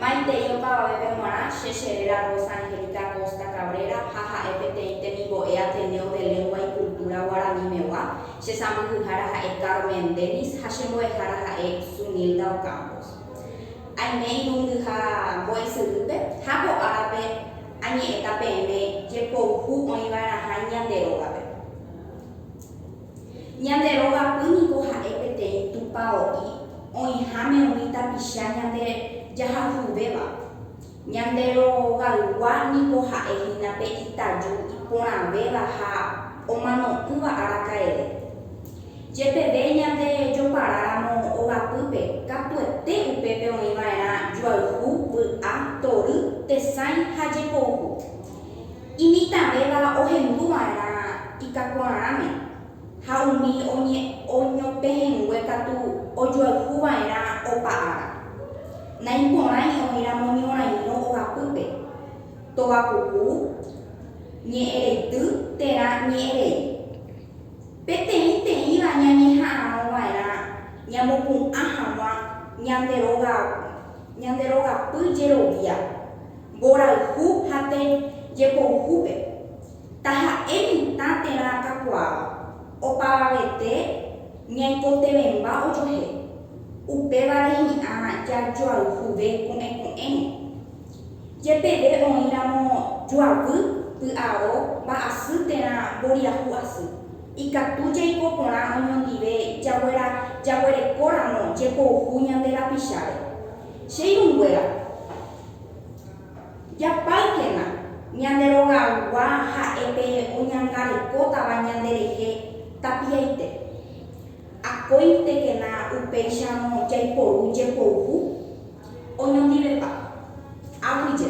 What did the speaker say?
Maitei opavavépe g̃uarã che che réra Rosa Angélica Acosta Cabrera ha ha'e peteĩ temimbo'e Ateneo de Lengua y Cultura Guaranimegua, che sãmbyhyhára ha'e Carmen Dennis ha che mbo'ehára ha'e Zunilda Ocampos. Aime irundyha mbo'esyrýpe ha ko árape añe'ẽta peẽme jepouhu oĩva'erãha ñande rógape. Ñande rógape niko ha'e peteĩ tupao'i oĩháme umi tapicha ñande jahayhuvéva. Ñande rogaygua niko ha'e hína pe itaju iporãvéva ha omano'ỹva araka'eve. Jepeve ñande joparáramo ogapýpe, katuete upépe oĩva'erã juayhu, vy'a, tory, tesãi ha jepouhu. Imitãvéva ohendu va'erã itakuaarãme, ha umi oñopehẽngue katu ojoayhu va'erã opa ára. Naiporãi oĩramo ñorãirõ ogapýpe, togapuku, ñe'ẽreity térã ñe'ẽrei. Peteĩteĩva ñañeha'arõ va'erã ñamopu'ã hag̃ua ñande róga, ñande rogapy jerovia, Mborayhu ha te jepouhúpe, taha'e mitã terã kakuaáva, opavavete ñaikotevẽmba ojohe, upévare hi'ã jajoayhuve ko'ẽko'ẽrõ. Jepeve oĩramo joavy, py'aro, mba'asy terã mboriahu asy, ikatu jaiko porã oñondive jaguera jaguerekóramo jepouhu ñande rapicháre. Che irũnguéra, Japáykena ñande rogaygua ha'e pe oñangarekótava ñanderehe tapiaite. Akóintekena upéicharõ jaiporu jepouvu oñondivepa. Aguyje.